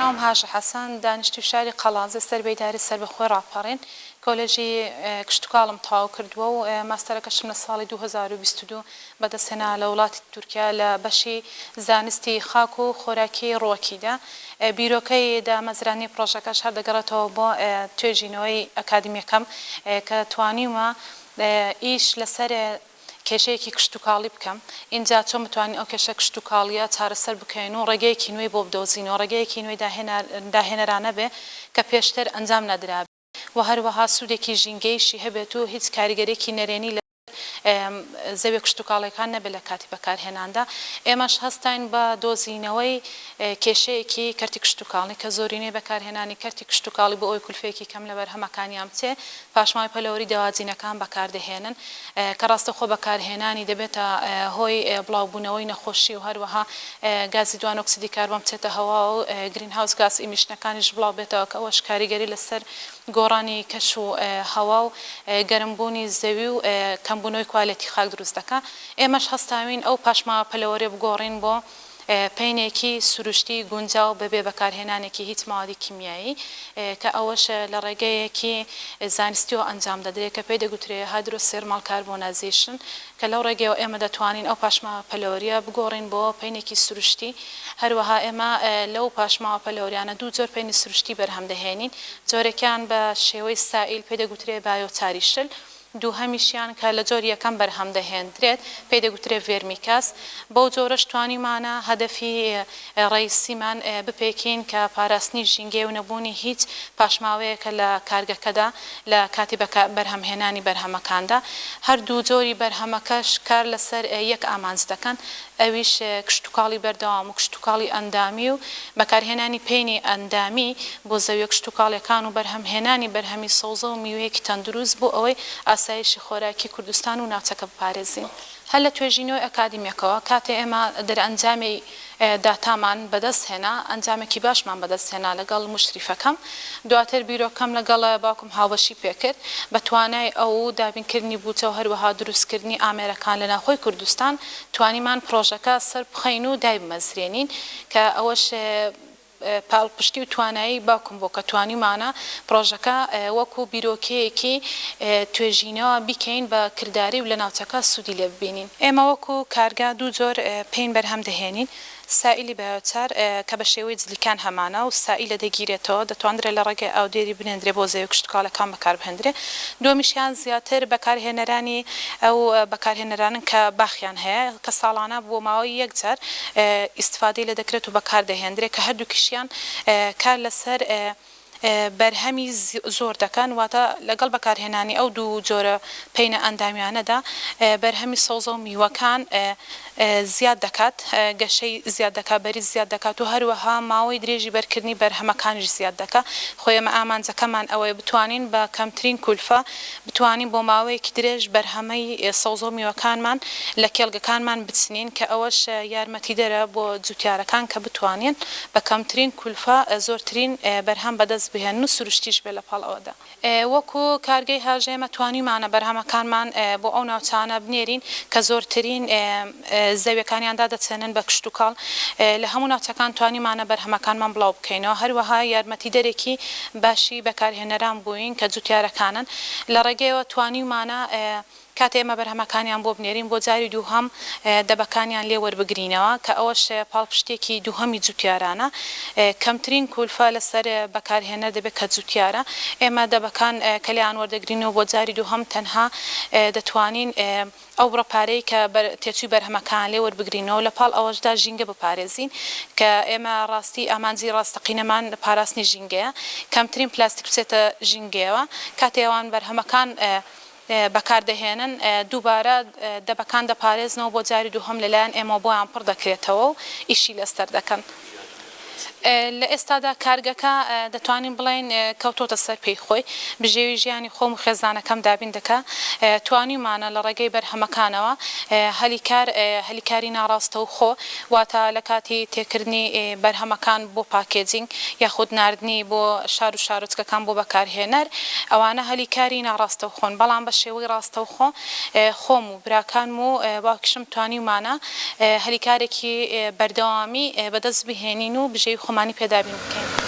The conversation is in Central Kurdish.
ناوم هاژە حەسەن، دانیشتووی شاری قەڵادزێ سەر بە ئیدارەی سەربەخۆی ڕاپەڕین، کۆلێجی کشتوکاڵم تەواو کردووە و ماستەرەکەشم لە ساڵی دوو هەزار و بیست و دوو بەدەستهێنا لە وڵاتی تورکیا لە بەشی زانستی خاک و خۆراکی ڕووەکیدا، بیرۆکەی دامەزراندنی پڕۆژەکەش هەر دەگەڕێتەوە بۆ توێژینەوەی ئەکادیمیەکەم کە توانیومە ئیش لەسەر کێشەیەکی کشتوکاڵی بکەم ئینجا چۆن بتوانین ئەو کێشە کشتوکاڵیە چارەسەر بکەین و ڕێگەیەکی نوێی بۆ بدۆزینەوە ڕێگەیەکی نوێی داهێنەرانە بێ کە پێشتر ئەنجام نەدرابێ. و هەروەها سوودێکی ژینگەیشی هەبێت و هیچ کاریگەریەکی نەرێنی لەسەر زەویە کشتوکاڵیەکان نەبێت لە کاتی بەکارهێناندا، ئێمەش هەستاین بە دۆزینەوەی کێشەیەکی کەرتی کشتوکاڵی کە زۆرینەی بەکارهێنانی کەرتی کشتوکاڵی بۆ ئەوەی کولفەیەکی کەم لە بەرهەمەکانیان بچێت پاشماوەی پەلەوەری دەواجینەکان بەکاردەهێنن کە ڕاستەوخۆ بەکارهێنانی دەبێتە هۆی بڵاوبوونەوەی نەخۆشی و هەروەها گازی دوانۆکسیدی کاربۆن بچێتە هەواوە و گرینهاوس گاس ئیمیشنەکانیش بڵاوبێتەوە کە ئەوەش کاریگەری لەسەر گۆڕانی کەش و هەوا و گەرمبوونی زەوی و کەمبوونەوەی کوالێتی خاک دروست دەکات ئێمەش هەستاوین ئەو پاشماوە پەلەوەرێ بگۆڕین بۆ پەینێکی سروشتی گونجاو بەبێ بەکارهێنانێکی هیچ مادی کیمیایی کە ئەوەش لە ڕێگەیەکی زانستیەوە ئەنجام دەدرێت کە پێی دەگوترێت Hydrothermal Carbonization کە لەو ڕێگەیەوە ئێمە دەتوانین ئەو پاشماوە پەلەوەریە بگۆڕین بۆ پەینێکی سروشتی هەروەها ئێمە لەو پاشماوە پەلەوەریانە دوو جۆر پەینی سروشتی بەرهەم دەهێنین جۆرێکیان بە شێوەی سائیل پێی دەگوترێت بایۆتاریشل دووهەمیشیان کە لە جۆری یەکەم بەرهەم دەهێندرێت پێی دەگوترێت ڤێرمیکەس، بەو جۆرەش توانیومانە هەدەفی ڕەئیسیمان بپێکین کە پاراستنی ژینگەیە و نەبوونی هیچ پاشماوەیەکە لە کارگەکەدا لە کاتی بەرهەمهێنانی بەرهەمەکاندا. هەردوو جۆری بەرهەمەکەش کار لەسەر یەک ئامانج دەکەن ئەویش کشتوکاڵی بەردەوام و کشتوکاڵی ئەندامی و بەکارهێنانی پێنی ئەندامی بۆ زەویە کشتوکاڵیەکان و بەرهەمهێنانی بەرهەمی سەوزە و میوەیەکی تەندروست بۆ ئەوەی ئاسایشی خۆراکی کوردستان و ناوچەکە بپارێزین. هەر لە توێژینەوەی ئەکادیمیەکەوە کاتێ ئێمە دەرئەنجامی داتامان بەدەست هێنا ئەنجامێکی باشمان بەدەست هێنا لەگەڵ موشریفەکەم دواتر بیرۆکەم لەگەڵ باوکم هاوبەشی پێکرد بە توانای ئەو دابینکردنی بوجە و هەروەها دروستکردنی ئامێرەکان لە ناوخۆی کوردستان توانیمان پڕۆژەکە سەربخەین و دایبمەزرێنین کە ئەوەش پاڵپشتی و توانایی باوکم بوو کە توانیومانە پڕۆژەکە وەکو بیرۆکەیەکی توێژینەوە بیکەین بە کرداری و لە ناوچەکە سوودی لێ ببینین. ئێمە وەکو کارگە دوو جۆر پین بەرهەم دەهێنین، سائیلی بایۆچار کە بە شێوەی جلیکان هەمانە و سائیلە دەگیرێتەوە، دەتواندرێ لە ڕێگەی ئاودێری بنێندرێ بۆ زەوی کشتوکاڵەکان بەکار بهێندرێ. دووەمیشیان زیاتر بەکارهێنەرانی ئەو بەکارهێنەرانەن کە باخیان هەیە کە ساڵانە بۆ ماوەی یەک جار، ئیستفادەی لێ دەکرێت و بەکاردەهێندرێت کە هەردووکیشیان کار لەسەر بەرهەمی زۆر دەکەن واتە لەگەڵ بەکارهێنانی ئەو دوو جۆرە پەینە ئەندامیانەدا بەرهەمی سەوزە و میوەکان زیاد دەکات گەشەی زیاد دەکات بەریز زیاد دەکات و هەروەها ماوەی درێژی بەرکردنی بەرهەمەکانیش زیاد دەکات خۆ ئێمە ئامانجەکەمان ئەوەیە بتوانین بە کەمترین کولفە بتوانین بۆ ماوەیەکی درێژ بەرهەمەی سەوزەو میوەکانمان لە کێڵگەکانمان بچنین کە ئەوەش یارمەتیدەرە بۆ جوتیارەکان کە بتوانین بە کەمترین کولفە زۆرترین بەرهەم بەدەست بهێنن و سروشتیش بێت لەپاڵ ئەوەدا وەکو کارگەی هەژێمە توانیومانە بەرهەمەکانمان بۆ ئەو ناوچانە بنێرین کە زۆرترین زەویەکانیان دادەچێنن بە کشتوکاڵ، لە هەموو ناوچەکان توانیمانە بەرهەمەکانمان بڵاو بکەینەوە، هەروەها یارمەتیدەرێکی باشی بەکارهێنەران بووین کە جوتیارەکانن، لە ڕێگەیەوە توانیومانە کاتێ ئێمە بەرهەمەکانیان بۆ بنێرین بۆ جاری دووهەم دەبەکانیان لێ وەربگرینەوە کە ئەوەش پاڵپشتێکی دووهەمی جوتیارانە، کەمترین کولفە لەسەر بەکارهێنەر دەبێت کە جوتیارە، ئێمە دەبەکان کە لێیان وەردەگرین و بۆ جاری دووهەم تەنها دەتوانین ئەو بڕە پارەی کە تێچووی بەرهەمەکان لێ وەربگرینەوە، لە پاڵ ئەوەشدا ژینگە بپارێزین، کە ئێمە ڕاستی ئامانجی ڕاستەقینەمان پاراستنی ژینگەیە، کەمترین پلاستیک بچێتە ژینگەیەوە، کاتێ ئەوان بەرهەمەکان بەکاردەهێنن دووبارە دەبەکان دەپارێزنەوە بۆ جاری دووهەم لەلایەن ئێمەوە بۆیان پڕ دەکرێتەوە و ئیشی لەسەر دەکەن. لە ئێستادا کارگەکە دەتوانین بڵێین کەوتۆتە سەر پێی خۆی، بژێوی ژیانی خۆم و خێزانەکەم دابین دەکا، توانیومانە لە ڕێگەی بەرهەمەکانەوە هەلی کار هەلی کاری ناڕاستەوخۆ واتە لە کاتی تێکردنی بەرهەمەکان بۆ پاکێجینگ یاخود ناردنی بۆ شار و شارۆچکەکان بۆ بەکارهێنەر ئەوانە هەلی کاری ناڕاستەوخۆن بەڵام بە شێوەی ڕاستەوخۆ خۆم براکانم و باوکیشم توانیومانە هەلیکارێکی بەردەوامی بەدەست بهێنین و بژێوی خۆمانی پێ دابین بکەین.